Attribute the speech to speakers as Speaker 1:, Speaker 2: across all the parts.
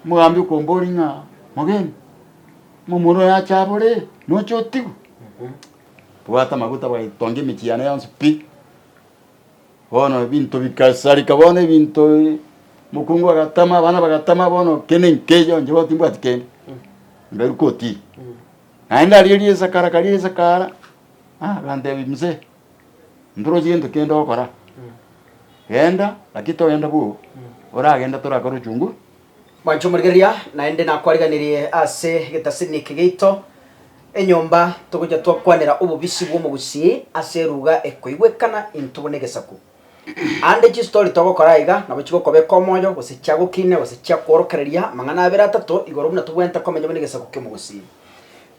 Speaker 1: Omogambi okomboria ng'a, Mogeni, omomura oyo ache abore, noche otigwe? Bwata amaguta bwaye, tonga emechie yane yonsi pi. Bono ebinto bigasareka bono ebinto mokungu agatama, abana bagatama bono kende nkeiyo inche bono timbwati kende, mberwe kotiri. Naende aria riesakara karia riesakara, agantebia, Mzee. Ntorosirie into kende ogokora, genda, lakini togenda bwogo, oragende torakore ochunguzi. Mwancha omorigereria,
Speaker 2: naende nakwariganirie ase egetasini eke geito enyomba, togocha twakwanera obobisi bw'omogusii ase eruga ekoigwekana intwe buna egesaku. Aande chistori togokora aiga nabo chigokobeka omoyo, gose chiagokine, gose chiakworokereria amang'ana abere atato igoro buna tobwenerete komenya buna egesaku ki'omogusii.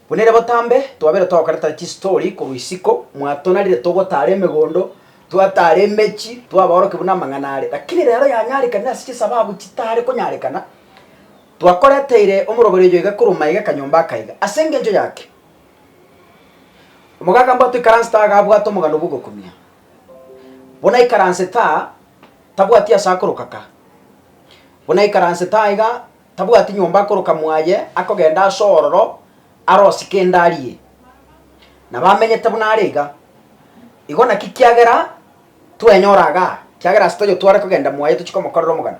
Speaker 2: Buna ere botambe, twabeire togokaretera chistori korwa isiko, mwatonarire togotaara emegondo, twataara emechie, twabaorokia buna amang'ana are. Lakini reero yanyarekanire ase chisababu chitaare konyarekana, twakoreteire omorobori oyo iga korwa maega kanyomba akaiga. Ase engencho yake, omogaka mbwate oikaransete aa iga abwate omogano bw'ogokumia. Buna aikaransete aa, tabwati ase akoroka ka. Buna aikaransete aa iga. tabwati nyomba akoroka mwaye akogenda ase ororo arosike ende arie, na bamenyete buna are iga. Igo naki kiagera twenyora igaa, kiagera ase toyotware kogenda mwaye tochie komokorera omogano.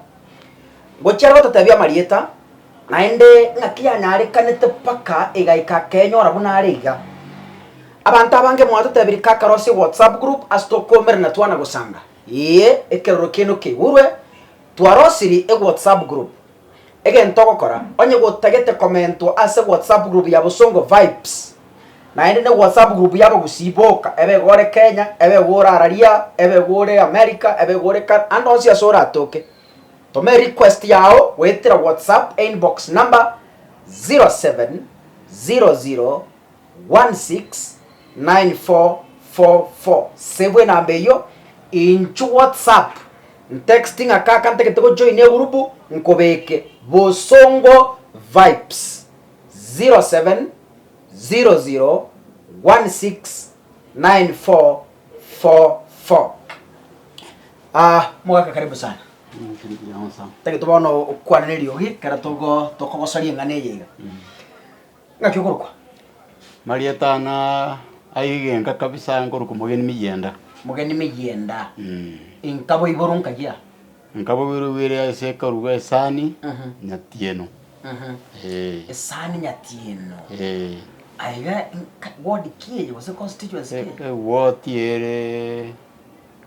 Speaker 2: Ngochia aroro totebie amarieta, naende ng'aki yanyarekanete mpaka egaika akenyora buna are iga. Abanto abange mwatotebirie kakare ase WhatsApp group ase tokomerana twana gosanga, ee, ekeroro kiaino keigurwe, Twarosiri e WhatsApp group. Egento ogokora, onye gotagete komentwa ase WhatsApp group ya Bosongo Vibes, naende ne WhatsApp group y'abagusii boka, ebe iga ore Kenya, ebe iga ore araria, ebe iga ore America, ebe iga ore Can, ande onsi ase oratoke, toma e request yao goetera WhatsApp e inbox number 0700 169444 Save enamba eyio inche WhatsApp ntext ng'a kaka ntagete gojoina egurubu nkobeke Bosongo Vibes 0700169444 Ah, mogaka karibu sana. Tagete bono okwane neriogi ekero togo tokogosaria eng'ana eye iga. Ngaki okorokwa?
Speaker 1: Marieta ng'a aye egenka kabisa nkorokwa omogeni miyienda. Mogeni miyienda. Inkabo igoro nkayia. Inkabo igoro igwire ase ekaru bwa esani nyatieno.
Speaker 2: Esani nyatieno. Aiga ward ki eye gose constituency ki eye? Ewoti
Speaker 1: ere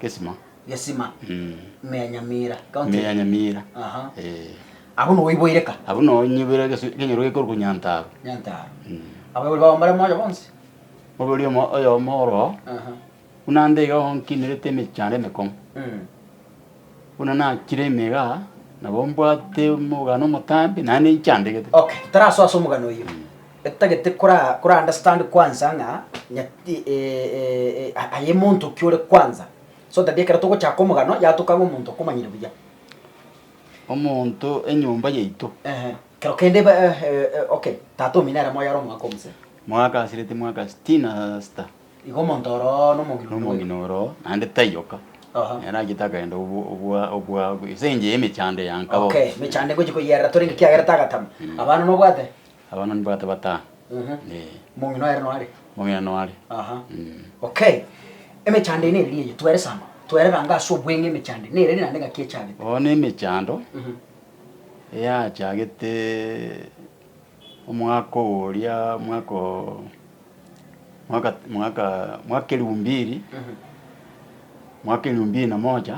Speaker 1: Gesima. Gesima, ime ya
Speaker 2: Nyamira, county. Ime ya Nyamira.
Speaker 1: Aha. Eh.
Speaker 2: Abwo noboiboire ka. Abwo noonyiboire gesu-
Speaker 1: genyoro gekorokwa Nyantaaro. Nyantaaro.
Speaker 2: Abaibori bao mbare moyo bonsi. Oboibori omo-
Speaker 1: oyomo oro, Aha. buna nde iga onkinirete emechando emekong'u. Mm. Buna nachire ime iga, nabo mbwate omogano omotambe, naende inchandegete. Okay, tarasoa ase
Speaker 2: omogano oyio. Etagete kora- kora understand kwansa ng'a, nyati- eh, eh, eh, a- aye monto ki ore kwansa. So that ekero togochaka omogano yatoka ng'a omonto okomanyire buya. Omonto
Speaker 1: enyomba yaito. Ehe. Kero kende
Speaker 2: ba eh, eh, okay. Tata omino ere moyo are omogaka omosee. Mogaka asirete mwaka
Speaker 1: sitini na sita. Igo omonto
Speaker 2: oroo na omogina onde bweeka. Nomogina oroo naende
Speaker 1: tayoka. Aha. Nere achete akaenda obwa obwa obwa ase engencho y'emechando ya nkabogocha. Okay, mechando ngochia
Speaker 2: koyierera torenge kiagerete agatama. Abana nobwate? Abana nibagate
Speaker 1: batano. Eeh.
Speaker 2: Omong'ina oye no are? Omong'ina no are. Aha. Okay. Emechando eye nere neye? Twere sana. Twere ranga ase obweng'e emechando eye. Nere naende ng'aki echagete? Oo nemechando
Speaker 1: eyachagete omwaka oria omwaka oo mwaka mwaka mwaka elfu mbiri mwaka elfu mbiri na moja.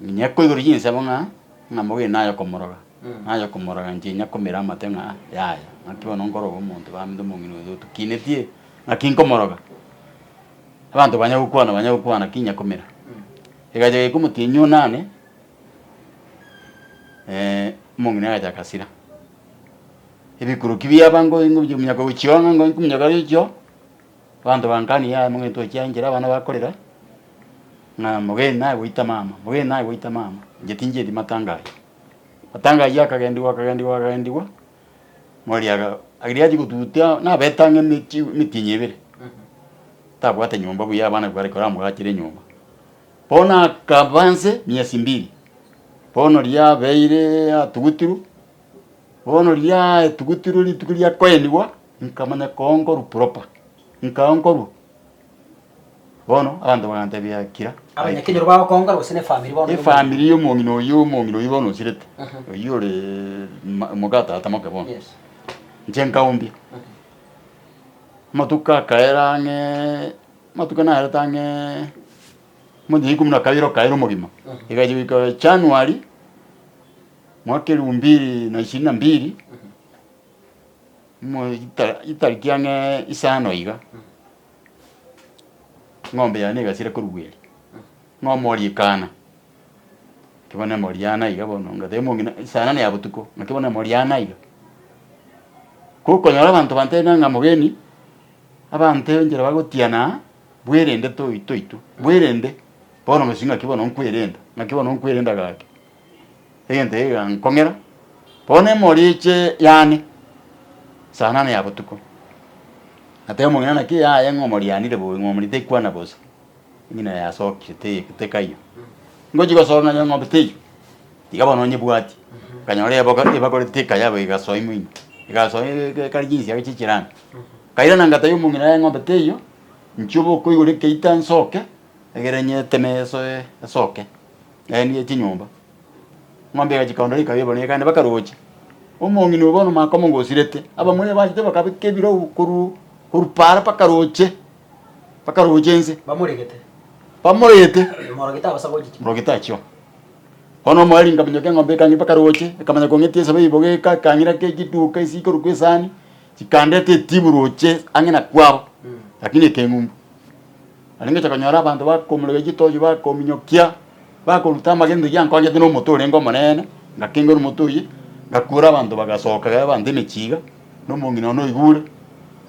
Speaker 1: Minyako igoro y'insemo ng'a ng'a mobe naye komoroga, naye komoroga inche inyakomera amate ng'a yaya, naki bono nkoroga omonto bambe omong'ina oyo tokinetie naki nkomoroga. Abanto banya gokwana banya gokwana naki inyakomera. Egachaka goika omotienyi one ane omong'ina agacha agasira. Ebikuruki biabango ingo binyaka gochia ong'a ingo nkominyoka gochia oo, Abanto bankania yaya momwete o chianchera abana bakorera ng'a mogeni naye goita mama, mogeni naye goita mama, inche tinchieti matanga aywo. Matanga aywo akagendigwa akagendigwa akagendigwa, mori aga riria achia gotutia nabete ang'e emeti emitinyi ebere, tabwate nyomba buya abana bare koramogachere enyomba. Bono akaba nse miezi mbiri, bono riria abeireee atugutirwe, bono riria aetugutirwe rituko riakoenigwa. Nkamanya koonkorwa proper, nkaonkorwa. Bono abanto bagantebia Akira, Abanyakenyoro bagokoongora
Speaker 2: gose n'efamiri bono y'omong'ina? Efamiri y'omong'ina oyio,
Speaker 1: omong'ina oyio bono osirete, oyio ore ma- moka tata moke bono. Yes. Inche
Speaker 2: nkaumbia.
Speaker 1: Amatuko akaera ang'ee, amatuko narete ang'ee monto ya ikomi na kabere okaera omogima, egacha goika January, mwaka elfu mbili na ishirini na mbili, itariki ang'e isano iga, ng'ombe yaye negasire korigwa erio, ng'a omori ekana, naki bono emori yane aiga bono, onga tari omong'ina saa nane ya botuko, naki bono emori yane aiga. Ko okonyora abanto bantebete ng'a mogeni, abanto enchera bagotianaa, bwerende toi toitwe, bwerende, bono gose ng'aki bono nkwerenda, ng'aki bono nkwerenda gaki. egento egegankong'era, bono emoriche yane saa nane ya botuko. Natebia omong'ina, Naki eyaye ng'a omorianire bobe, ng'omori tekwana bosa, eng'ina yaye yasokire te- tekaiyo. Ngochia gosoka ng'a eng'ombe teiyo, tiga bono onyebwati. Nkanyora eboka ebakure tekaya boigo egasoa ime ime, egasoa eke- ekare chinsiaga chie chiranga. Nkairana ngatebia omong'ina ng'a eng'ombe teiyo, nchia obokoigora ekeita nsoke, egere nyeteme esoe esoke. Laini ye chinyomba. Eng'ombe egachia ekaondora ekaba ebonire kande bakarochia. Omong'ina oyo bono omaka omonga osirete, abamura ebachete bakabeka ebirau korwa korwa para mpaka roche, mpaka roche nse. Bamoregete. Bamoregete. Morogete abasa gochia chinguru. Morogete achio. Bono omoeri nkaminyoka eng'ombe ekang'ira mpaka roche, ekamanya kong'etie esabe eye ibogo eka ekang'ira ake chiduka ase ikoru kwa esani, chikandete etibu roche ang'e na kwabo, lakini ekeng'umbu. Narengeche konyora abanto bakomoregeria chitochi, bakominyokia, bakoruta amagena rigiya nkonyete nomote orenge omonene, ngakenga nomote oye, ngakuura abanto bagasoka iga abanto emechiga, na omong'ina one oigure.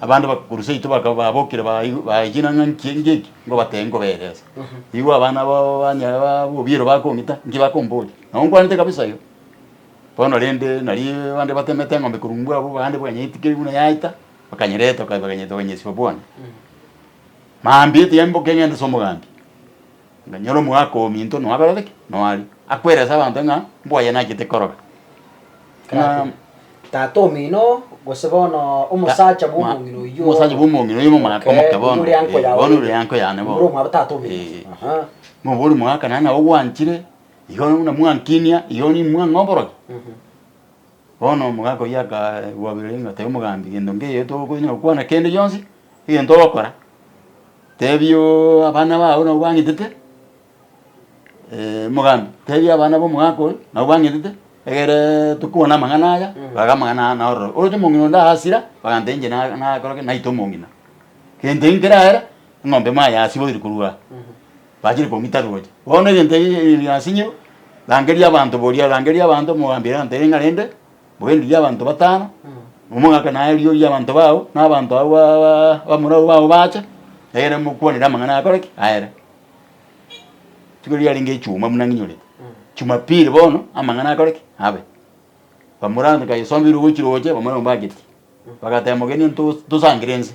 Speaker 1: Abande bagakurusia eito baka babokire baigu baechire ng'a nki nki eki, ngobatebia nkoberese. Igwe abana babo banyare ba bobiero bakong'ita, nki bakomboria? Nabo nkwanete kabisa iga. Bono rende nario abande batemete eng'ombe korwa mbwabo, abande banyeitikire buna yaita, bakanyereta baka bakanyereta bakanyesiba bwane. Mambia etia emboke ng'ende ase omogambi, nganyore omogaka ominto noakorete ki? Noaria. Akwere ase abanto ng'a mbwaye nachete koroga. Ng'a
Speaker 2: Tata omino oo, gose bono omosacha bw'omong'ina oyio oo. Omosacha bw'omong'ina oyio omogaka
Speaker 1: omoke Okay, bono. oyore anko Eh, yawe bono ore. ore anko yane bono. Ore omwabo tata omino. Eh.
Speaker 2: Aha.
Speaker 1: Noborie omogaka naye ng'a ogwanchire, igo buna mwankinia, igo nimwang'a oborokia. Mhm. Bono omogaka oyio akaboria ng'a, Tebe omogambi, gento nkeiyo tokonyara gokwana kende gionsi egento ogokora, tebia abana bao nabo bang'itete, omogambi, tebia abana b'omogaka oyo nabo bang'itete, egereee tokobua namang'ana aya, baga amang'ana aya naororo. Oroche omong'ina onde agasira, bagantebia inche na- nakore ki? naite omong'ina. Gento ekio nkere aere, eng'ombe emo ayasiboire korwa aa. Bachire komita roche. Bono egento eke keri nasinyirwe, Rangeria abanto boria, rangeria abanto omogambi egento eke ng'a rende, mogendererie abanto batano, momogake naye rirorio ri'abanto bao, na abanto abwo ba- ba- bamorwaru bao bache, egere mokwanere amang'ana akore ki? Aere. Rituko erio riarenge echuma buna ng'inyorete, chumapiri bono amang'ana akore ki? Abe. Bamorwate kai esombirwe gochia roche, bamorwate mbageti, bagateba mogeni onto tosangere nse.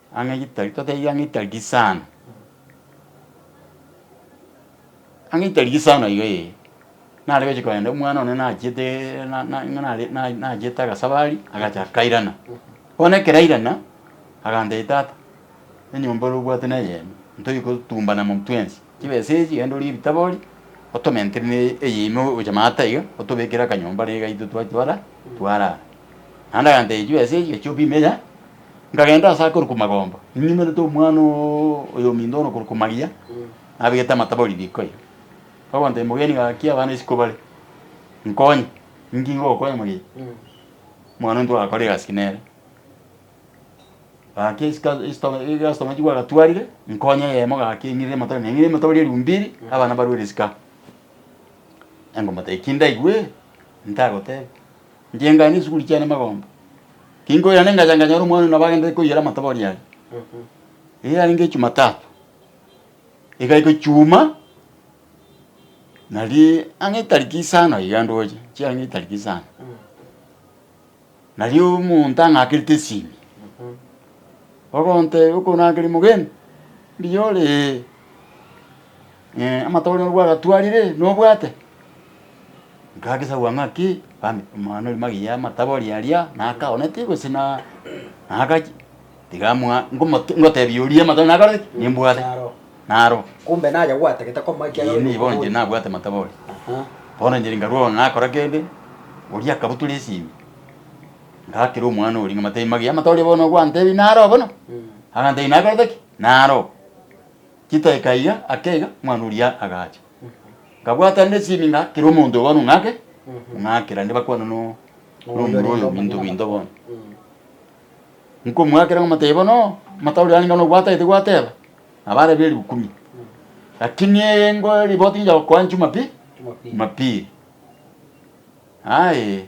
Speaker 1: Ang'e gitari totebi ang'e gitari gisano, ang'e gitari gisano iga ee, nare gochia kogenda omwana one nachiete na- na- na- nare na- na- nachiete agasabari agacha akairana. Bono ekero airana, agantebi tata, enyomba ore obwate na eyemo, ntoiyo kotumbana mum twensi, chibesa echi genda orie ebitabo orie, otomentere na eye ime gocha maata iga, otobekere akanyomba niga intwe twachia ora, twarara. Naende agantebi chibesa echi gachia opime yaani. Nkagenda aase akorwa Kumagombo, ninyimerete omwana oyo ominto bono okorwa Kumaria, nabegete amatabo ribiko ime. Bagontebia, Mogeni, gaki abana isiko bare, nkonye. Inki ngogokonya moyio? Omwana oyio ntwagakora egasi nere. Gaki esika esito egastoma echi gwagatwarire, nkonye eyemo gaki eng'irere amatabo ime. Neng'irere amatabo rieru mbiri, abana barwere esika. Nengoteba, Eki ndaigwere, ntagotebi. Nkiengaya nesuguri chiane magomba. Kinkoirana engacha nkanyora omwana oyio nabo agenderete koiyera amatobori aria. Eye yarenge Echumatatu. Egaika Echumaa, nari ang'e etariki isano iga ndoche, chiaye ang'e etariki isano. Nari omonto ang'akerete esimi, ogontebia okonakeria mogeni, mbuyore ee. Amatooro nobwo agatwarire nobwate? Nkagesagwa ng'aki? Bambe omwana oria magega y'amatabo oria aria naka oneti gose na nakachi? Tiga amoa ngomote ngotebia oria amatoro nakorete ki? Nimbwate. Naro. Naro. Kumbe naye
Speaker 2: gwatagete komoa ekiagera Eeh, nigo inche oyokoboria. nabwate
Speaker 1: amatabo oria. Aha. Bono inche nkarwa bono nakora kende, oria akabutora esimi, ngakera omwana oria ng'amotebi magega y'amatooria bono ogwantebi naro bono? Agantebia nakorete ki? Naro. Chidaki kaiga ake iga omwana oria agacha. Nkabwata nde esimi ng'a kera omonto obono ong'ake, ong'ake rende bakwane no nomura oyo binto binto bono. Nkomwakera ng'omotebi bono amatabu riane ng'a nobwatagete gwateba, nabo arebe erikumi. Lakini engo riboti ngiya gokoa Jumapili, Jumapili. Aye.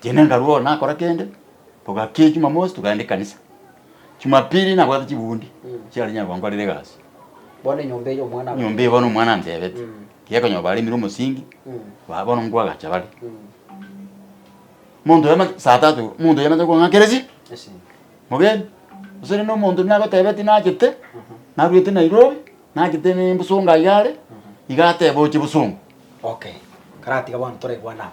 Speaker 2: Tiende nkarue
Speaker 1: ore nakora kende, togakee Jumamosi togaenda ekanisa. Jumapili nabwate chibundi chiare nyare konkorera egasi. Bono enyomba eye omwana
Speaker 2: abateebete. Nyomba eye bono omwana anteebete.
Speaker 1: Tiga konyoba baremire omosingi, ba bono ngwa agacha bare. Monto oyo saa tatu, monto oyo amache kong'akeresia, mogeni. Gose rende omonto nagoteebeti nachete, narwete Nairobi, nachete ne Busunga iga are, iga ateebe oche Busunga. Okay.
Speaker 2: Karatiga bono toraigwana amo.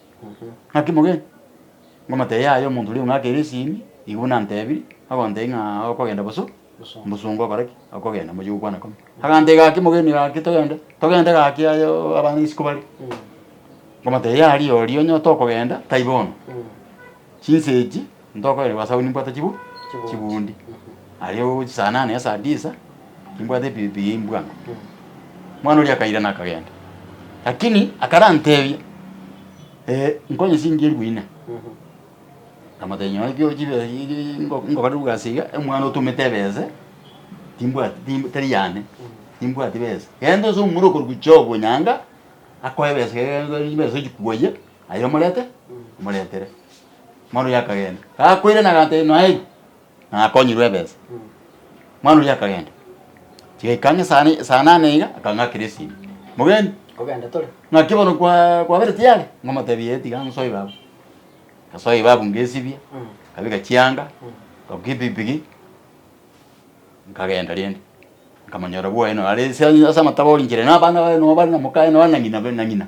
Speaker 1: Naki mogeni? Ngomotebia, Yaya omonto oria ong'akire esimi, igo buna antebirie, agontebia ng'a okogenda boso, mbosongo okore ki? Okogenda, mochie gokwana kome. Agantebia, Gaki mogeni, gaki togende, togende gaki aye oo abana isiko bare. Ngomotebia, Yaya rirorio onye otokogenda, tai bono. Chinsa echi. Ntokoire gwasaba nimbwate chibu chibundi. Aria ogochia saa nane ya saa disa nimbwate epibipi ya imbwango. Mwana oria akairana akagenda. Lakini akarantebia eh, nkonye singi elifu ine. Nkamotebia nyowe ekio chibe ngokore bwasi iga omwana otomete ebese timbwati timb tari yane timbwati besa. Genda ose omomura okorugu chiobo nyanga akoe ebesa iga egento chibesa ochikuoye. Aye omorete, omoretere. Omwana oria akagenda. Gakoirana agateba, Noeri, nakonyirwe ebesa. Omwana oria akagenda. Tiga ikaanga esaa ne- esaa nane iga, akaanga akera esimi. Mogeni, Kogenda tore.
Speaker 2: ng'aki bono kwa-
Speaker 1: kwabereti yare? Ng'omotebi, ee tiga nsoe babu. Ngasoe babu ngesibia, nkabeka chianga, ngabukia epikipiki, nkagenda rende. Nkamonyora bwoye naro are ase ase amatabori nchera, na abana baye noo bare na mokaye noo na ng'ina be na ng'ina.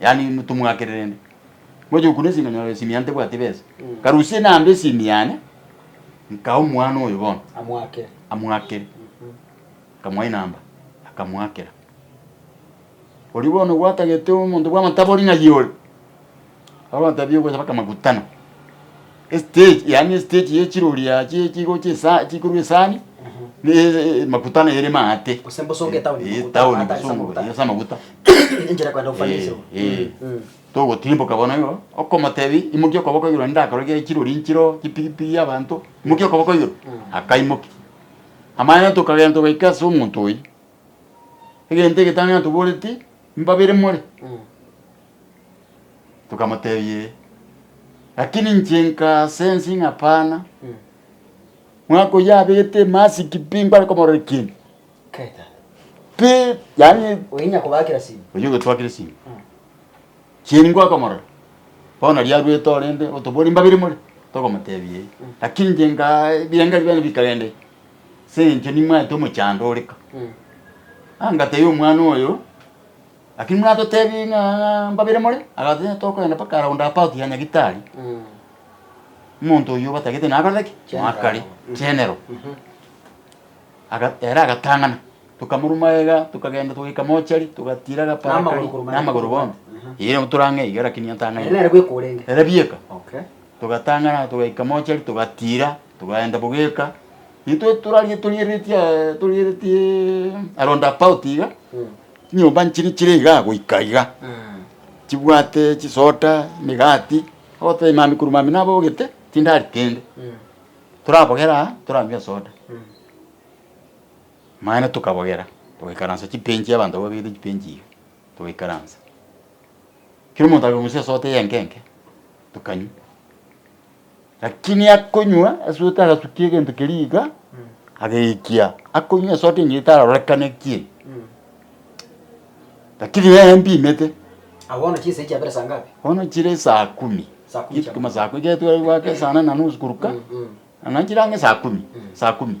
Speaker 1: Yaani tomwakere rende. Ngocha gokuna esinga nyora esimi yane tebwati besa. Nkarusia enamba esimi yane, nkaa omwana oyo bono. Amwakere. Amwakere. Nkamoa enamba, akamwakera. Oria bono gwatagete omonto bw'amatabori ng'a yore. Abatabie ogocha bakamakutana. Estage, yaani estage ye chiroria chie chigo chie sa- chikorwa esani, ne e- e- maguta nere maate. Gose mbosongo ya town, Eh,
Speaker 2: maguta, town maate ase bosongo, amaguta.
Speaker 1: eh, ase amaguta. Enchera kwenda
Speaker 2: gofanya Eh, esemo. eh. Mm, mm.
Speaker 1: Togotimboka bono igo, okomotebi imokia okoboko igoro naende akore gie chirori nchiroo, chipigipigi abanto, imokia okoboko igoro, akaimokia. Amaene tokagenda togaika ase omonto oyio, egento egetang'ani toboreti, mbabere more. Mm. Tokamotebia, Ee, lakini inche nkasensi ng'a hapana, mwaka oyio abete emasiki pi nkware komorora ekieni,
Speaker 2: pi
Speaker 1: yaani Oyinya kobakera simi.
Speaker 2: oyio ogotwakire simi,
Speaker 1: kieni nkware komorora, bono nari arwete orende, otobori mbabere more? Tokamotebia, Ee, lakini inche nka ebirengererio biane bikarenda ime, ase eng'encho nimanyete omochando ore ka. Aa ngatebia omwana oyo, Lakini mwatotebi ng'a mbabere more? Agateba, Tokoenda mpaka around about ya Nyagitari, omonto oyio batagete nakorete ki? General. Noakare, general. Aga- ere agatang'ana, tokamorwa magega, tokagenda togaika mochari, togatiira agapara Namagoro karia, korwa magega namagoro korwa bono. bono. Eyi rero tore ang'e iga lakini atang'ane. Ere nere bweka orenge. Ere
Speaker 2: bieka. Okay. Togatang'ana
Speaker 1: togaika mochari togatiira, togaenda bogeka. Intwe torarigetorieretie torieretie around about iga. Chinyomba nchiria chire igaa goika iga, chibwate chisoda, emegati, ogotoba emamekuru mambia nabogete chindari kende, torabogera aa toranywa esoda. Mambia tokabogera, togaikaransa chibench abanto babegete chibench iga, togaikaransa. Kera omonto akorusia esoda eye enke enke, tokanywa. Lakini akonywa esote agasukia egento keria iga ageikia akonywa esote engiya etarorekane ki eye. Lakini nere empimete Abo bono chinsa echi
Speaker 2: chiabere saa ngapi? bono chire esaa
Speaker 1: kumi Saa kumi chia kama saa kumi ekero tware goaka esaa nane na nusu koruka Mm, mm. nana chire ang'e esaa kumi esaa kumi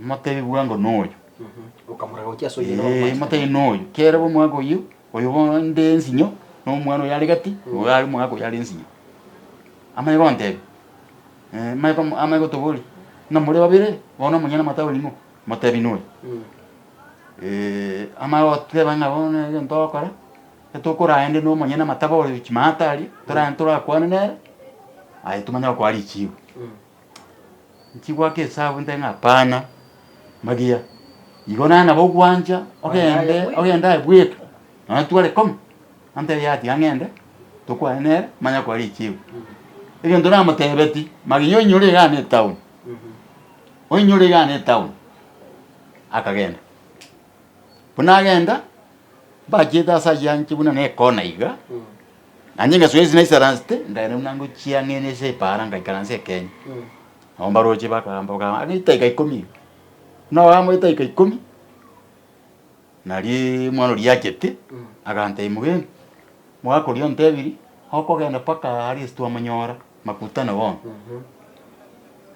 Speaker 1: Motebi bwango noyo. Okamora gochia
Speaker 2: ase oyio noro Ee, motebi mwanchete. noyo. Kerebe
Speaker 1: omogaka oyio, oyo bono nde ensinyo, na omwana oyo are gati, oyo are omogaka oyo are ensinyo. Amanye gontebia, eh, amanye kom- amanye gotoboria, ng'a more babere, bono omonyene amate awe ning'o? Motebi noyo. amanye goteba ng'a bono nere egento ogokora, ekero tokorende na omonyene amate abe ore chimaate aria, toragende torakwane nere, aye tomanye gokoa richibo. Nchigoaka esabu nte ng'a hapana, magia igo naye nabo ogwancha ogende ogende aye bweka nonya tware koma antebie ati iga ng'ende tokwane nere manye akore richigo. Egento namotebetie, magia oinyore iga ne etown, oinyore iga ne etown, akagenda. Buna agenda, mbachete ase ayio anche buna nekona iga. Naende ingaswa ense naisaransete, nkairana buna ngochia ng'ene ase epaara ngaikaransa ekeene. Nabo mbaroche bakagamba bakagamba, Anga eitaika ikomi iga. Buna bagamba eitaika ikomi, nario omwana oria achete, agantebia mogenda, omogaka oria ontebirie, okogenda mpaka aria ase twamonyora. Makutano bono.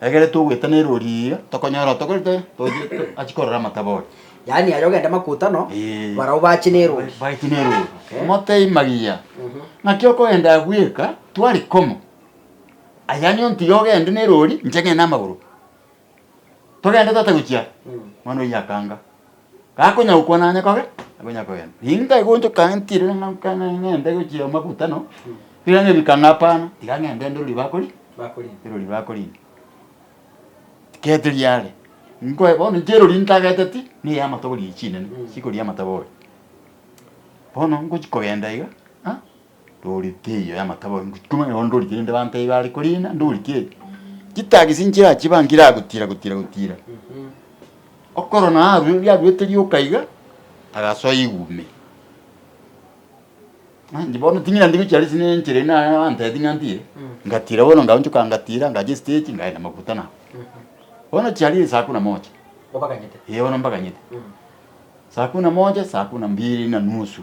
Speaker 1: Egere togoetana erori eye iga tokonyora tokorete aa togochia to achia korora amatabo ore. Yaani aye ogende
Speaker 2: makutano, Eeh. barabwo bache nerori. Baeti nerori. Okay.
Speaker 1: Motebie magiya, Mhm. naki okogenda agwo eka tware komo. Aye anye ontige ogende nerori, inche ng'ende namagoro. Togende tata gochia. Mwana oyio akanga. Gakonya gokwana onye kobe, akonya kogenda. Ninto egonchoka ntire ng'a nka- ng'a- ng'ende gochia makutano, mpira nebika ng'a hapana, tiga ng'ende ndore riria bakori ndore riria bakorina. Gete riare, nkoe bono inche erori ntageteti, na eya amatogo riria chinene, chikoria amatogo oyo. Bono ngochia kogenda iga, ng'a. Ndorite eyiyo y'amatabo aye, ngochia komanya bono ndorite rende bantebie bare korina, ndorike eye. Chitagi ase nchera achiba nkire agotira gotira gotira. Okorora naye arwe yaruete rioka iga, agasoa igumi. Ng'a inche bono ting'ina ndi gochia risie ne enchera ende naro bantebie ng'a ndie, ngatira bono ngaonchoka ngatira ngachia estage ngaenda maguta nabo. Bono chiarire saa kumi na moja. Obaganyete.
Speaker 2: Eeh bono mbaganyete.
Speaker 1: Saa kumi na moja, saa kumi na mbiri na nusu.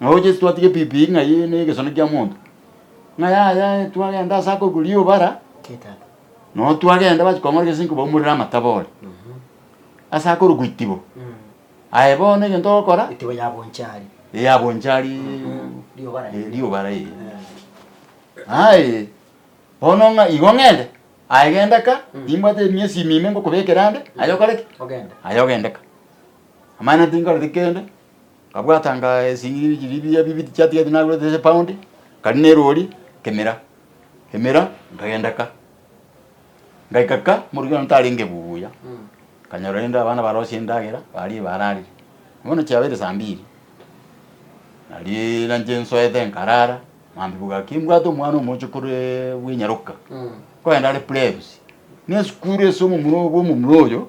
Speaker 1: Nao Yeso twatiga ebibii ng'ai negesone kia monto, ng'a yaya twagenda ase akogwa rioba ara,
Speaker 2: nao twagenda
Speaker 1: bachi kong'ora gese ninki baumorere amatabo ore ase akorokwa itibo. Aye bono egento ogokora. Itibo ya Bonchari.
Speaker 2: Ee ya Bonchari. Rioba raye. Ee rioba raye.
Speaker 1: Aye bono ng'a igo ng'ende, aye genda ka, nimbwate emiesi ime ime ngokobekera ande, aye okore ki? Ogende. Aye ogende
Speaker 2: ka.
Speaker 1: Amang'ana tinkoreti kende. Nkabwatanga esing'iri chiria ebiya bibiri chiatigete nagurete ase epaundi, nkaria na erori nkemera emera nkagenda ka. Ngaika ka moruya one tarenge buya, nkanyora rende abana barosie endagera barie bararire. Bono chiabeire saa mbiri, naria nainche nsoete nkarara, maambia bogaki mbwate omwana omoche koree bwa enyaroka, nkogenda are plebs, na esukuru ase omomura obo omomura oyo.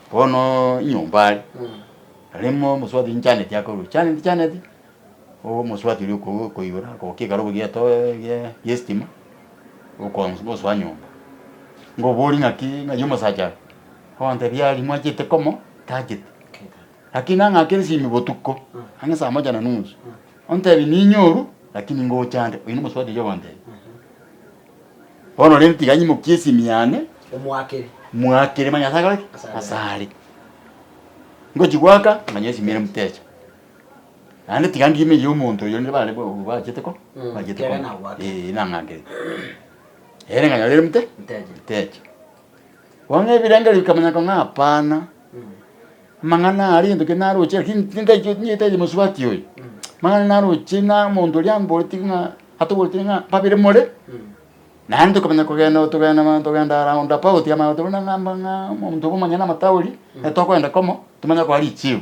Speaker 1: Bono nyomba are, arimo omosubati nchaneti akorwa chaneti chaneti, omosubati oria okoigwa okoigora agokia ekero obogia eto egiee giestima, okoons gosoa nyomba. Ngoboria ng'aki ng'ai omosacha are, ogotebia aria mwachete komo tachete, lakini ang'e ake esimi botuko, ang'e saa moja na nusu, ontebia ninyoru lakini ngocha nde, oyio nomosubati oyogontebia. Bono rende tiga nyimokie esimi yane Omoakere. moakere, manye ase akore ki? Ase Ase are. Ngochi goaka, manya esimi ere mtecha. Naende tiga ngime eyio omonto oyio nere bare bo- bachete ko, Mm, bachete kere koba. nagoakete. Eeh, nang'ankerete. Ere nganyore ere mte- Mtecha. mtecha. Bono ebirengererio bikamanya ng'a hapana, amang'ana aya ari gento kende naroche, lakini tingaichwe tingetaeti mosubati oyo. Amang'ana naroche na omonto oria amboreti ng'a atoboreti ng'a babere more, naende tokamanya kogenda otogenda mana togenda round about amana tokona ng'a mba ng'a omonto obo omonyene na amatauri, ekero tokogenda komo, tomanye okora richibu.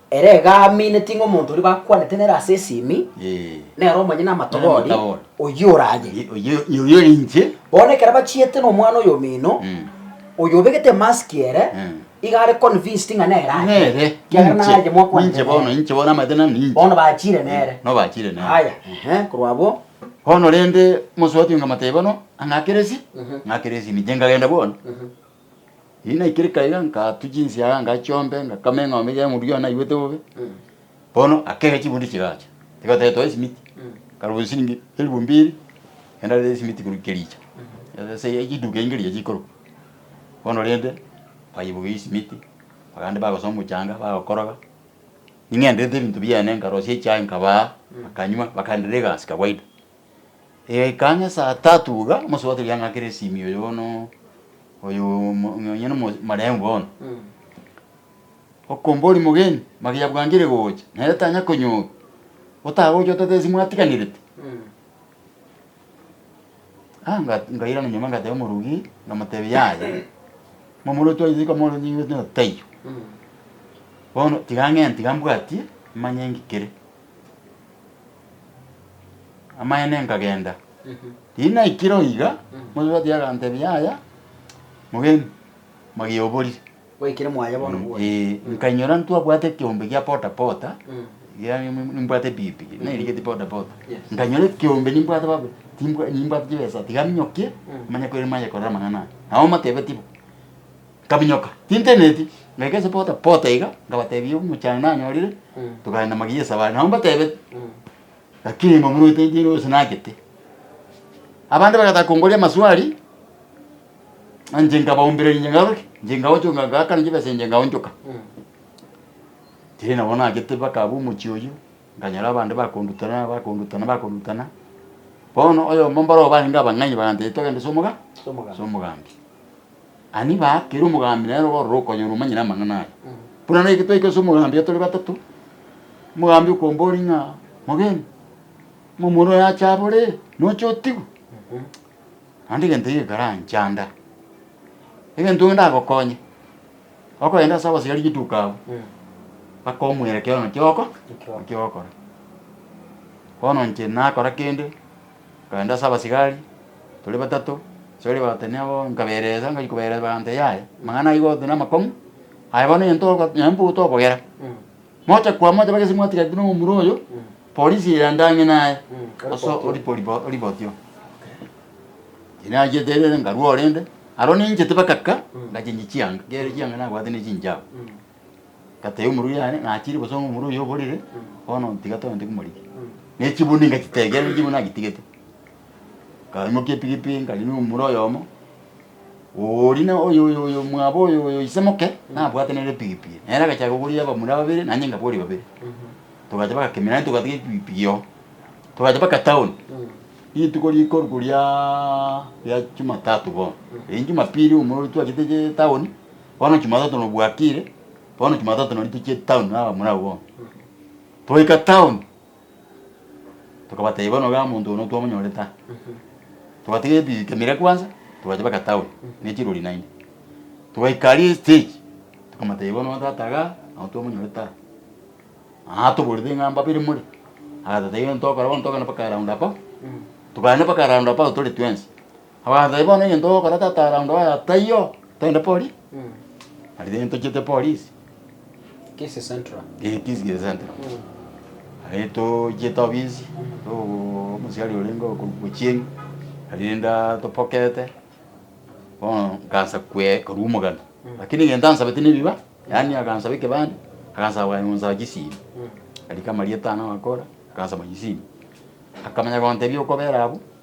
Speaker 2: Ere iga amineti ng'a omonto oria bakwanete nere ase esimi nere omonyene amatogori, oyio oraye. Oyio ore
Speaker 1: inche. Bono ekero bachiete
Speaker 2: nomwana oyomino, oyo obegete emasiki ere, iga are convinced ng'a nere aye, ekiagera naye
Speaker 1: mwakwanete
Speaker 2: nere. Inche bono namaete
Speaker 1: ng'a ninche. Bono bachire nere.
Speaker 2: Bono bachire nere. Aya,
Speaker 1: ehe, korwa
Speaker 2: abwo. Bono rende,
Speaker 1: omosuoti oyo nkamotebia bono, ang'akeresi? Ng'akeresi ninche, nkagenda bono. Ninaikireka iga, nkatua chinsiaga ngachiombe, ngakama eng'ombe eria y'omonto gento naigwete bobe. Bono akega chibunde chigacha, igo toetwa esimiti, nkarobia chisiringi elifu mbiri, naende arete esimiti korwa kericho, ase chiduka echi nkericho chikorokwa. Bono rende, baibogia esimiti, abande bagosoa omochanga, bagokoroga, ning'enderete ebinto biane, nkarosia echae nkabaa, bakanywa, bakaenderia egasi kawaida. Egaika ang'e esaa tatu iga, omosubato riang'a kere esimio oyo bono oyo omo- nonye na omo- marehemu bono, okombori mogeni, magia bwangire gocha, nere tanya konyorwa, otagocha otate ase mwatiganirete. Ah nga- ngairana nyuma ngateba omorogi, namotebi yaya, momura otwaiyote kamo taiyo, bono tiga ng'e tiga mbwatie, manye ngikere. Amaene nkagenda. Riria naikire oo iga, Mosubati agantebia, Yaya, mogeni, magie oborire. Gwaikire mwaye
Speaker 2: bono bwonsi. Ee, nkainyora ntwabwate
Speaker 1: ekeombe gia pota pota, iga nim- nimbwate epikipiki, nairigetie pota pota. Yes. Nkainyora ekeombe nimbwate baba, timbwa- nimbwate chibesa, tiga minyokie, manye kore manye korora amang'ana aya. Nabo motebetie bo. Nkaminyoka, tinteneti, ngaika ase pota pota iga, nkabatebia omochando nanyorire, tokaenda magiya esabari, nabo mbatebete, lakini momoruete inche nigo gose nagete. Abande bagataka kongoria amaswali, inche nkabaumbereria inche ngaroki, inche nkaonchoka ngakana chibesa inche nkaonchoka. Tiri nabo nagete mpaka abwo omochie oyio, nkanyora abande bakondutana bakondutana bakondutana, bono oyomo mbarobwo barenge abang'aini bagantebia togende ase omoga ase omogambi. Ani baa, kera omogambi nere ororo okonyora omanyire amang'ana aya. Buna naki twaika ase omogambi tore batato, omogambi okomboria ng'a, Mogeni, omomura oyo ache abore, noche otigwe? Naende egento ekio kekaranchanda. Egento ekio ndagokonye, okogenda ase abasibari rituko abwo, bakomwera ekiagera naki ogoko naki ogokora. Bono inche nakora kende. Nkagenda ase abasigari tore batato, ase baria bagatebia nabo nkaberesa, ngachia koberesa bagantebi yaya amang'ana aiga ogotonia amakong'u aya bono onye togo nonye mbwe tokogera moche kwa moche bagese mwatigaretie na omomura oyo polisi eye yandang'e naye ase oripo oripo oripoti oo. Tinachiete rende nkarua orende, aro ninchete mpaka ka, ngachinchia chianga, nkiaria chianga nabwate ne chinchago. Ngatebia omorui yane, ng'achire bosa omorui oyo oborire, bono ntiga togende komorigia. Na echibuni ngachitegeera na echibuni nagitigete. Nkaimokia epigipigi nkarigia omomura oyomo, oooria na oyo oyo oyo mwabo oyo oyo ise moke, nabwate nere epigipigi. Nere agachaka koboria abamura babere, naende inga boria babere. Togacha baka kemira naende togatiga epigipigi oo. Togacha baka town, rituko rikorwa riaaa ria jumatatu bono. Riria jumapili omorui twachete town. Bono Jumatatu nobwatire, bono Jumatatu nonye tochie town aa bamura abwo bono. Twaika town, tokabatebia bono iga omonto oyo notwamonyore ta. Togatiga ebi ekamera kwanza, togacha mpaka town ne chirori naende. Twaika aria estage, tokamotebia bono oo tata igaa, nao twamonyore ta. Aa toborete ng'a mbabere more, agatotebia bono tokora bono togende mpaka round about, tokagenda mpaka round about tore twensi. Abasae, bono egento ogokora tata around oye taiyo, togende polisi. Aria togende tochiete polisi. Kisii
Speaker 2: central. Eeh Kisii central.
Speaker 1: Aria tochiete ofisi, togoo omosiani orenge okorokwa Ochieng', aria rende atopokete, bono nkaansa kwe korwa omogano. Rakini egento ansabete na ebiba, yaani akansaba ekebande, akansaba bwango konsaba chisimi. Aria kama rietano agakora, akansaba chisimi. Akamanya gontebia okobera abwo.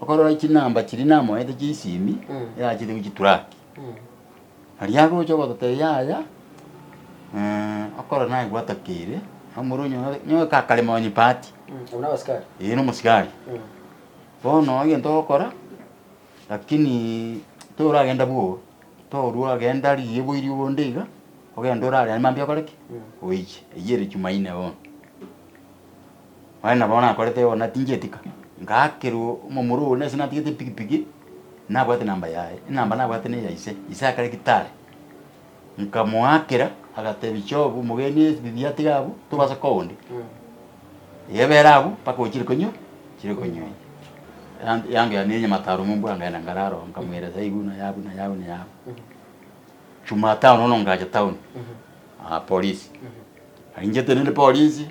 Speaker 1: Okorora chinamba chiria namoete chi'esimi erachete gochia Turaki, aria agocha ogototebia yaya, okorora naye gwatokeire, omorwe onyore nyowe kakarema onyipati. Abwo nabasikari?
Speaker 2: Ee nomosikari.
Speaker 1: Bono egento ogokora, lakini toragenda bwoba, torwa genda rigiebwa erio bonde iga, ogende orare aria mambia okore ki? Oiche. Eyio ere Jumaine bono. Onye nabo nakorete bono natingi etika, ngakerwa omomura onde ase natigete epikipiki, nabwate enamba yaye, enamba nabwate na eya ise, ise akare gitari, nkamoakera agatebia Job omogeni ebibi atiga abwo, tobasa koa onde, ebere abwo mpaka ochire konywa chire konywa ense. Yanga yanga yane nyamataro momba nkagenda nkarara oo, nkamweresa ebi buna yabu na yabu na yabu. Jumatano bono ngacha town, Aa polisi. Aringete nende polisi,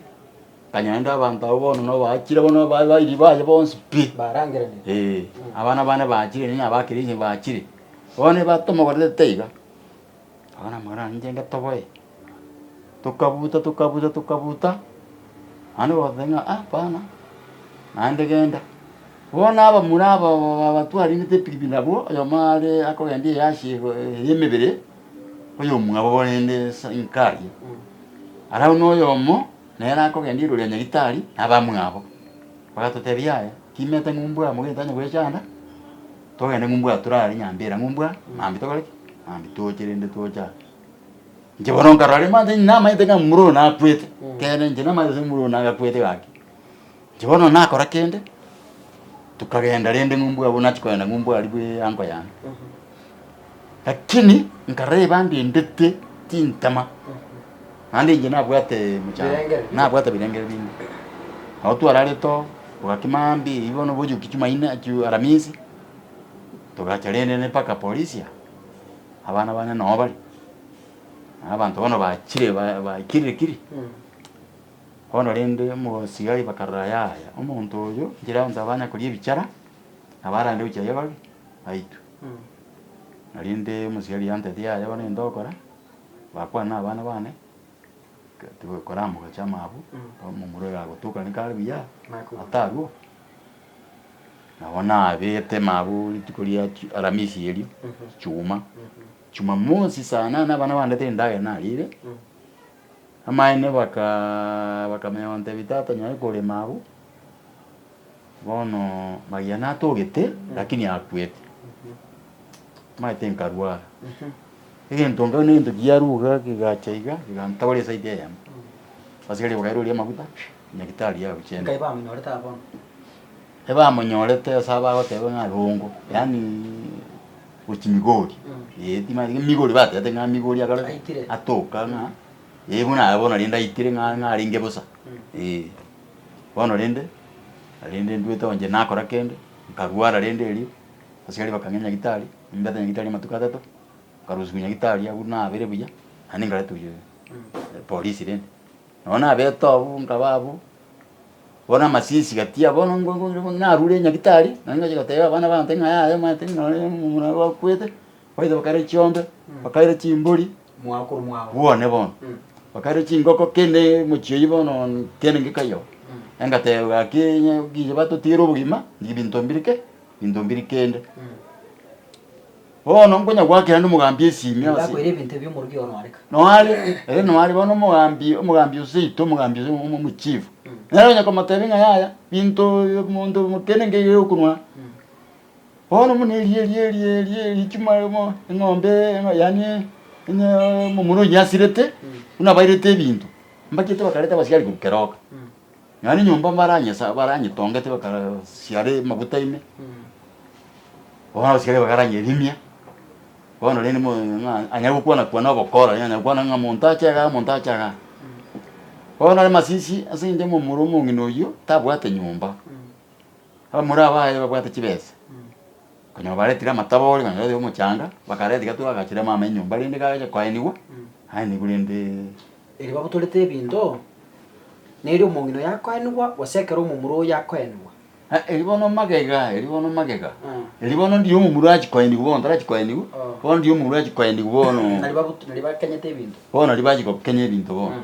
Speaker 1: akanya nende abanto abwo bono na obaachire bono ba bairi baye bonsi pi. Barangeranie. Ee,
Speaker 2: abana bane
Speaker 1: baachire nini aba keria onye baachire. Bono eba tomogorerete iga, abana amagoro ane inche ngetoboe, tokabuta tokabuta tokabuta, naende ogoteba ng'a aa hapana, naende genda. Bono abamura aba ba ba batwarete epikipiki nabwo, oyomo are akogenda eyasi ego eye emebere. Oyomwabo barende Sankaya, arabwo noyomo nere akogenda igoro ria Nyagetari na abamwabo, bagatotebia aya, Timete ng'umbu aa mogeni tanya gwechanda, togende ng'umbu aa torare nyambe era ng'umbu aa, mambia tokore ki? Mambia toche rende toche aa. Inche bono nkarora rende manche namaete ng'a momura oyo nakwete, ekeene inche namaete ase momura oyo nagakwete gaki. Inche bono nakora kende, tokagenda rende ng'umbu abwo nachia kogenda ng'umbu aria bwe ango yane. Lakini nkareba ndendete chintama, naende inche nabwate mochango, Birengeri binde. nabwate birengeri binde. Nabo twararire too, togaki maambia eyio bono bochia goki Jumaine, ju- Aramisi, togacha rende ne mpaka Porisia, abana bane noo bare, na abanto bono bachire ba- baikirire kiri. Bono rende mogosigari bakarora, Yaya, omonto oyo nchera yonsi abe anyakoria ebichara, na barande gochia aye babe baitwe. Rende omosigari oye antebirie, Yaya, bono egento ogokora, bakwane nabana bane, tigo koramogocha amaabwo, omomura oyo agotukane kare buya, atarwo. Nabo nabete maabwo rituko ria chi Aramisi erio, chichuma, Jumamosi saa nane abana bandetire endagera narire. Amaene bakamanya bamotebia, Tata, nyore korema abwo, bono Maria natogete, lakini akwete. Amaete nkarwara, egento nkagwa negento kiaruga kegacha iga kegantobora esaidi eyemo, abasigari bakaira oria amaguta, nyagetari agochie. Ebamonyorete ase abagoteba ng'a rongo, yaani gochia Migori, eh, timanyeti ng'a Migori batebete ng'a Migori akare ki? Aitire. Atoka ng'a eh buna aye bono rende aitire ng'a ng'a arenge bosa, eh. Bono rende, rende nduete onye nakora kende, nkarwara rende erio, abasikari bakang'e nyagitari, nimbete nyagitari amatuko atato, nkarusia nyagitari abwo nabere buya, naende nkaretwa polisi rende. Nao nabete abwo, nkaba abwo, bono amasisi gatia bono ngo- ngo- ngo- narure nyagitari, naende ngochia gotebia abana baanto ng'a yaya omanyete ng'a nonye omomura oye gwakwete, baito bakare chiombe, bakaira chimbori,
Speaker 2: bwane bono,
Speaker 1: bakaira chingoko kende mochie oyio bono kende ngekayo, engateba gaki onye kiya batotigere obogima, nibinto mbirike, binto mbiri kende. Bono nkonyagwakera ande omogambi esiimi ase. Nigakoire ebinto ebi omorogi
Speaker 2: oo noareka. Noare, ere noare
Speaker 1: bono omogambi, omogambi o seito, omogambi ase omo, omochief. Nere onye komotebia ng'a yaya, binto ibi monto kende nkeire ere okonwa. Bono buna eria eria eria eria eria echimo emo eng'ombe emo yaani onye omomura oyio asirete, buna abairete ebinto, mbachete bakareta abasiari korwa keroka. Nonya nenyomba mbaranyesa baranyetongete bakarasiara amaguta ime, bono abasike baria bakaranyerimia, bono rende mo ng'a anyare gokwana-kwana ogokora, rende anyare gokwana ng'a monto ache igaa, monto ache igaa. Bono nere masisi ase eng'encho momura omong'ina oyio tabwate nyomba, Abamura aba aye babwate chibesa, konya babaretire amatabori konya babete omochanga, bakareta gati bagachera mama enyomba rende gacha koenigwa, aenigwe rende. Erio babotorete
Speaker 2: ebinto, na erio omong'ina oyo akoenigwa, gose ekero omomura oyo akoenigwa. Ah, erio bono
Speaker 1: magega, erio bono magega. Ah. Erio bono ndiyo omomura achi koenigwa bono, tarachi koenigwa, Oh. bono ndiyo omomura achi koenigwa bono. Nari babot- nari bakenyete
Speaker 2: ebinto. Bono nari bachi gokenya
Speaker 1: ebinto bono.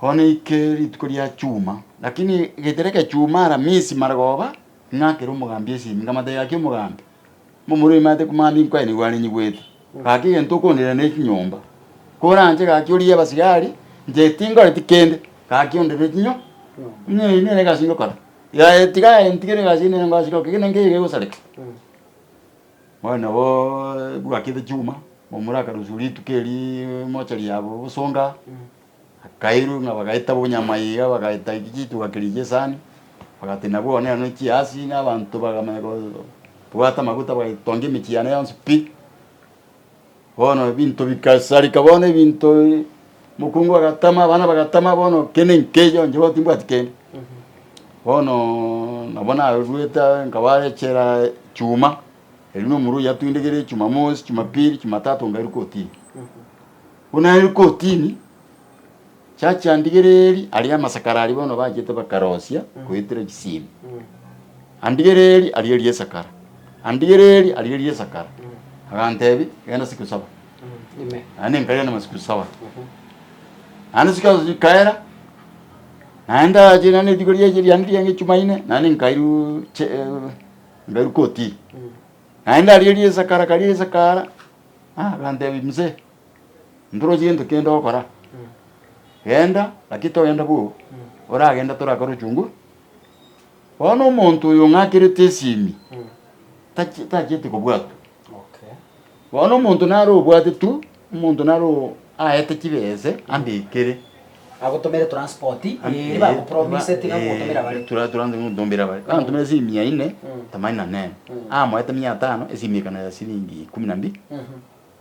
Speaker 1: Bono ike rituko ria chuma, lakini egetera ekechuma Aramisi marogoba, ing'akera omogambi esimi, nkamata gaki omogambi, mbu omorwoti nimanyete ko mogambi nkoe nigo arenyigwete, gaki egento okondera ne chinyomba, koranche gaki origie abasigari, inche tinkoreti kende, gaki ondorere chinyo buna eyi nere egasi ngokora, yaye tiga aye ntigere egasi eyi nere ngoa sire gokora, gaki nere nkeyo iga egosareka. Moyo nabo ebwakete chuma, momoraka nusu rituko eri mochari yabo obosonga, akairwa ng'a bagaeta bonyama iga bagaeta chituga keria chi'esani, bagatenena bono neno ne chiasi na abanto bagamanya kobwata amaguta bagatongia emechie yane yonsi pi. Bono ebinto bigasareka, bono ebinto mokungu agatama, abana bagatama, bono kende nkeyo inche bono timbwati kende. Bono nabo naruete aye nkabare echela chuma, erio na omorwaire oye atindegere jumamosi, jumapili, jumatatu ngairu kotini. Buna nairwe kotini, Chiachia ndigereeri, aria amasakara aria bono bachete bakarosia goetera chisiimi. Andigereeri, aria eria esakara. Andigereeri, aria eria esakara. Agantebi, genda siku saba. Naende
Speaker 2: nkagenda amasiku
Speaker 1: saba. Naende siku ezo chikaera, naende ache naende rituko riache riane rianga echumaine, naende nkairuu che eh, nkairuu koti. Naende aria eria esakara karia esakara, ah, agantebi mzee, Ntorosie gento kende ogokora. Genda, lakini togenda bobe. Oragende torakore ochunguzi. Bono omonto oyo ong'akerete esimi tachi- tachieti kobwatwa.
Speaker 2: Bono omonto
Speaker 1: nare obwate tu, omonto nare o- aete chibese ambekere. Agotomere
Speaker 2: transport eeri bagopromiseti ng'a mogotomera bare. Tura- turanse gotomera bare.
Speaker 1: Gantomera esimi mia ine, tamani nanene. Amoete mia tano, esimi ekana ya siringi ikomi na mbili.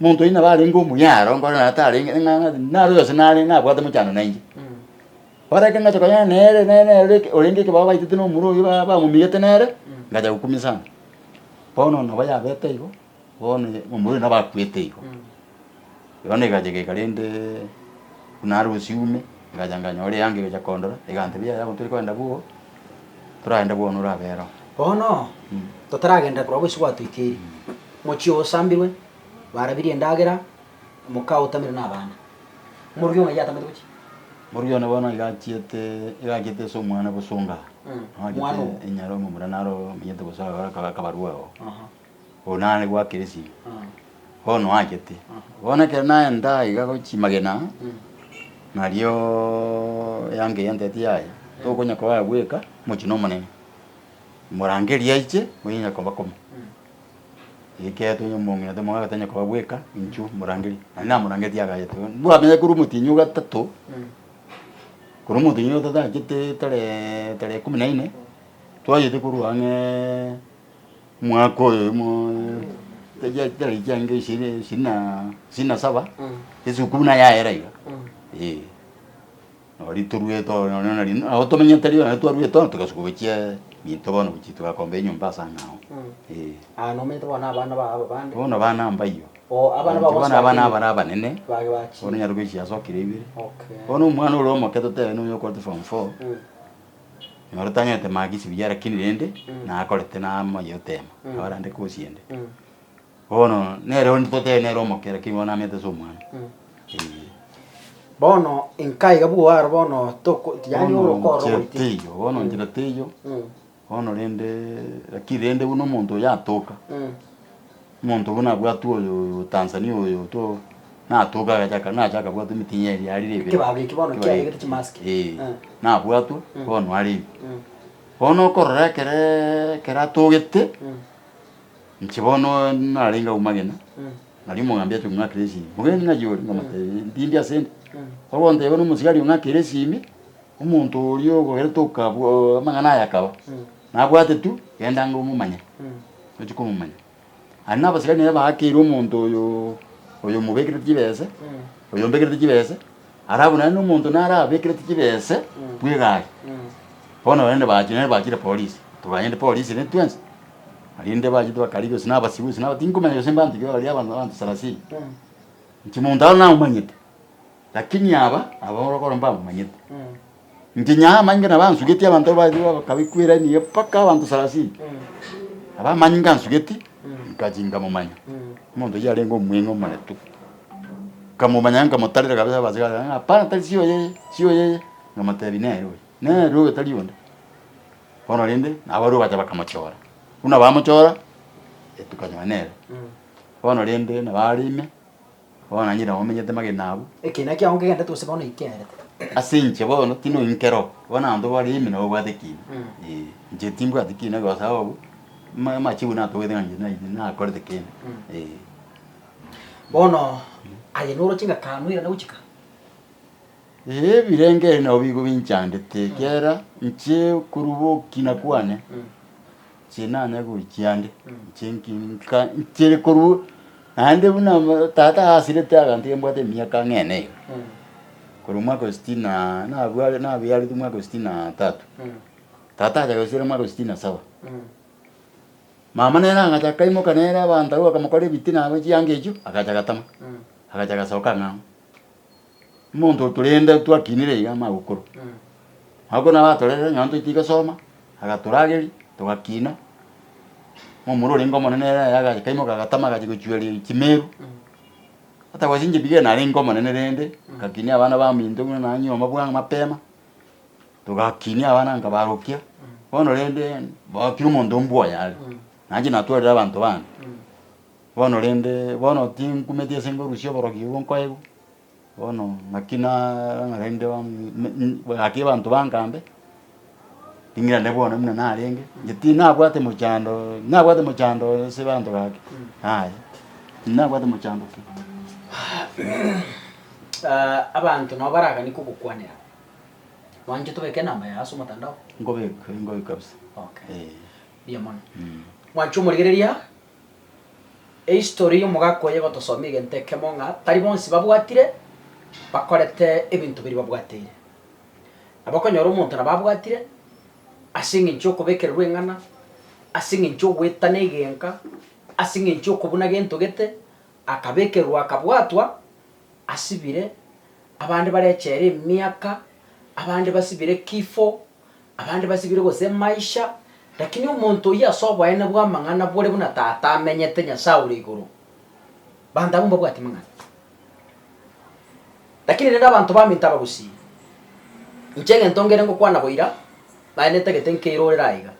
Speaker 1: Monto onye nabo arenge omuya aro, nkore naye tarenge, eng'ang'a ase naro yonsi nare nabwate mochando na inche. Bono ekero ngacha konyora nere nere nere ore eke orenge ekebao baitete na omura oyio ba- bamomigete nere, ngacha gokumia sana. Bono nabo yabete igo, bono omura oyo nabo akwete igo. Igo na egacha egeka rendeeee buna are bosio ime, egacha nkanyora eanga egacha kondora, egantebia yaya bono tore kogenda bwogo, toragende bwono orabe ere oo. Bono
Speaker 2: totaragenda korwa bosio gwatoikeire. Mochie osambirwe, barabirie endagera, moka otamere nabana. Moruya ona yatamete gochia. Moruya one bono
Speaker 1: iga achiete, iga achiete ase omwana bosonga. Mwana Noagete obo.
Speaker 2: enyara omomura
Speaker 1: naro omenyete bosa agora akaba akabarua oo. Aha. Oyo nare gwakera esimi. Aha. Bono oachete. Bono ekero naenda iga gochia magena, nario eanga eye yantebeti yaya, tokonya koa bweka, mochie nomonene. Morangerie aiche, onye onye koba kome. Eketo onye momomino tari mogaga tanya koba bweka inchuo morangeri nari namorangeti agachete iga bwamenye korwa omotinyi o gatato korwa omotinyi o gatato agachete taree tarehe kumi na ine twagete korwa ang'ee mwaka oyo oyomoo taria tari chiange ishirini ishirini na ishirini na saba esukuru naye yaera iga eeh. Nari toruete oo nonya nari nao tomenyete rirorio nari twaruete oo togasuka gochia minto bono gochia togakomba enyomba ase ang'e ao. Ee. Aa nomanyete
Speaker 2: bono abana bao ababande. Bono abana mbayio.
Speaker 1: Oo abana bao bonsi bakenyete. Bono abana abare abanene. Bage bachire. Bono onyare
Speaker 2: gochia ase okera
Speaker 1: ibere. Okay. Bono omwana
Speaker 2: ore omoke
Speaker 1: totebe nonya okorete form four. Nyora tanyorete marks buya lakini rende. Nakorete namaye otema. Nabare ande kosi ende. Bono nere onde totebe nere omokera, kegima namete ase omwana. Ee.
Speaker 2: Bono inka iga bwo aro bono toko yaani Bono orokoro inchera goiti. teiyo, bono
Speaker 1: inchera teiyo, Mm. bono rende lakini rende buna omonto oyo atoka, Mm. omonto buna abwatwe oyo oyo Tanzania oyo to natoka agachaka nacha akabwatwa emitinyi eria yarire ebere. Ekebao eki bono Ekebao kiarenge
Speaker 2: eki. chimask. Ee, Mm. nabwatwe,
Speaker 1: Mm. bono arenge. Mm. Bono okorora ekere ekero atogete, Mm. Inche bono narenge agwo magena, nario omogambi achoka ng'akera esimi. Omogeni ng'achie ore, nkamotebia, Ndindi ase ende. Oro gonteba buna omosibwa aria ong'akera esimi, omonto oria okogerete okabwa amang'ana aya akaba, nabwate tu, genda ng'a omomanye, ochie komomanya. Aria nabasikari naye baakeire omonto oyo oyo omobekerete chibese, oyo ombekerete chibese, arabu naende omonto naro abekerete chibese bw'egari. Bono naende bachire naende bachire polisi, toganyete polisi naende twensi. Naende bachete bakarigia gose nabasibe gose naba tinkomanya gose mbanto ki bakaria abanto abanto sarasini. Inche monto aro namomanyete, lakini aba aba orokoro mbamomanyete. Inche Nyaye amanyinga nabansugetie abanto aba baye bakabe kwerania iga mpaka abanto sarasini. Aba amanyinga ansugeti nkachi nkamomanya. Omonto oyio yarenge omweng'e omoretu, nkamomanya nkamotarera kabisa abachire baye hapana tari si oye eye, si oye eye, nkamotebia nere oyo, nere oyo tari onde. Bono rende nabarwoti bacha bakamochora, buna bamochora tukanyora nere. Bono rende nabo are ime, bono nanyire nabo menyete magena abwo. Ekina kiago nkegenderete
Speaker 2: gose bono inkerete. Ase inche bono
Speaker 1: tindi oinkera oo, bono abanto bare ime nabo obwate ekina. Ee, inche timbwati ekina egose abwo, ama- amachigo natogete ng'a inche naiyire nakorete kende, ee.
Speaker 2: Bono aye noroche ng'a kanwe erinde gochika?
Speaker 1: Ebirengererio nabo bigo binchandete, ekiagera inche koruba ogokina kwane, inche nanyare gochia ande, inche nka nchire korwa naende buna tata asirete aganto iga mbwate emiaka ang'e na iga, korwa omwaka wa sitini na nabwa nabiaretwe omwaka wa sitini na tatu, tata acha agasiera omwaka wa sitini na saba. Mama nere agacha kaimoka nere abanto abwo bakamokorera ebitina abwo chianga echio, agacha agatama, agacha agasoka ang'e ang'e. Omonto otorenda twakinire iga amagokoro, agwo korende abatorerire nonya ntoite iga soma, agatorageria togakina, omomura orenge omonene ere aye agakaimoka agatama agachia gochueria chimeru, atagosire inche bigeni narenge omonene rende, ngakinia abana baminto buna naye nyomba bwa mapema, togakinia abana nkabarokia, bono rende boo kera omonto mbwe oye are, naye natwarire abanto bande, bono rende bono tinkumeti ase ngorusia oborogi obwo nkoegwa. Bono naki narang'anereire gaki abanto bangambe, ring'ana rinde bono buna narenge, inche tinabwate mochando, nabwate mochando ase abanto gaki, yaya, tinabwate mochando pi.
Speaker 2: Abanto nabo baragani kogokwanera, mwanche tobeke enamba yago ase omotandao? Nkobeka, nkobeka
Speaker 1: kabisa. Okay. Eh.
Speaker 2: Mbuya mono. Mwanche omorigereria, Ehistory y'omogaka oye egotosomia egento ekemo ng'a tari bonsi babwatire bakorete ebinto biria babwateire. Nabo okonyora omonto nabo abwatire ase eng'encho y'okobekererwa eng'ana, ase eng'encho y'ogoetana egenka, ase eng'encho y'okobuna gento gete, akabekerwa akabwatwa, asibire, abande bare echela emiaka, abande basibire kifo. Abande basibire gose maisha, lakini omonto oyio ase oboene bw'amang'ana bore buna Tata amenyete, Nyasae ore igoro. Abanto abwo mbabwati mang'ana. Lakini rende abanto baminto abagusii, inche egento ngere ngokwana boira, naye netagete nkeirorere aiga.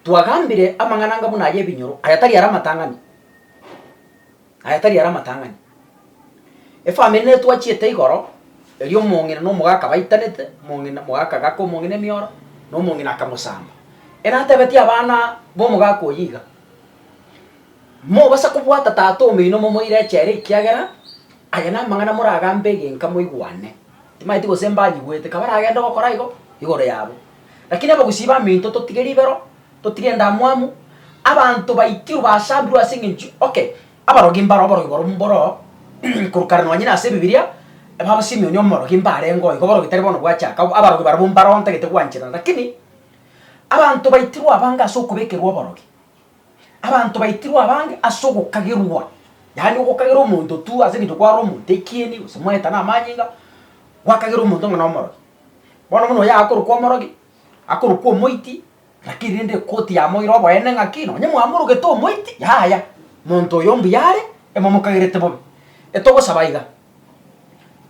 Speaker 2: Twagambire amang'ana anga buna ay'ebinyoro, aya tari ara amatang'ani. Aya tari are amatang'ani. Efamiri netwachiete igoro, erio omong'ina na omogaka baitanete, omong'ina mogaka agaka omong'ina emioro, na omong'ina akamosamba. Ere atebetie abana b'omogaka oyio iga, Mobasa kobwata tata omoino momoire echere ekiagera aya namang'ana moragambe egenka moigwane. Timaeti gose mbanyigwete, kabaragende gokora igo igoro yabo. Lakini abagusii b'aminto totige ribero. Totige endamwamu, abanto baikirwe basambirwe ase eng'encho okay, abarogi mbaro oborogi boro mboro korokana nonye nase Ebibiria, baba Simeoni omorogi mbarengeo igo oborogi tari bono bwachaka, abarogi barabwo mbaro ntagete gwancherana lakini, abanto baitirwe abange ase okobekerwa oborogi, abanto baitirwe abange ase ogokagerwa, yaani ogokagera omonto tu ase eng'encho kware omonto ekieni gose mwaetana amanyinga, gwakagera omonto ng'a nomorogi. Bono buna oyo akorokwa omorogi, akorokwa omoiti. Lakini rende ekoti yamoire oboene ng'aki, nonye mwamorogete omoiti, yaya, monto oyo mbuya are, emomokagerete bobe. Etogosaba iga,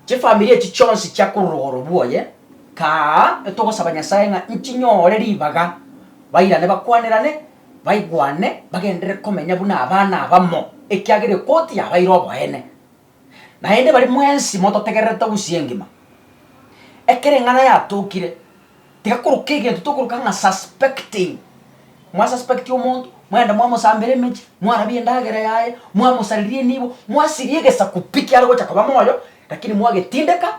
Speaker 2: chifamiri echi chionsi chia korwa rogoro bwoye, kaa, etogosaba Nyasae ng'a nchinyore ribaga, bairane bakwanerane, baigwane, bagenderere komenya buna abana abamo, ekiagera ekoti yabaire oboene. Naende baria mwensi mototegererete obusie engima. Ekero eng'ana yatokire, tiga koroka egento tokoroka ng'a suspecting, mwa suspect omonto, mwende mwamosambera emechie, mwarabie endagera yaye, mwamosareria enibo, mwasiria egesaku pi kiare gocha koba moyo, rakini mwagetindeka,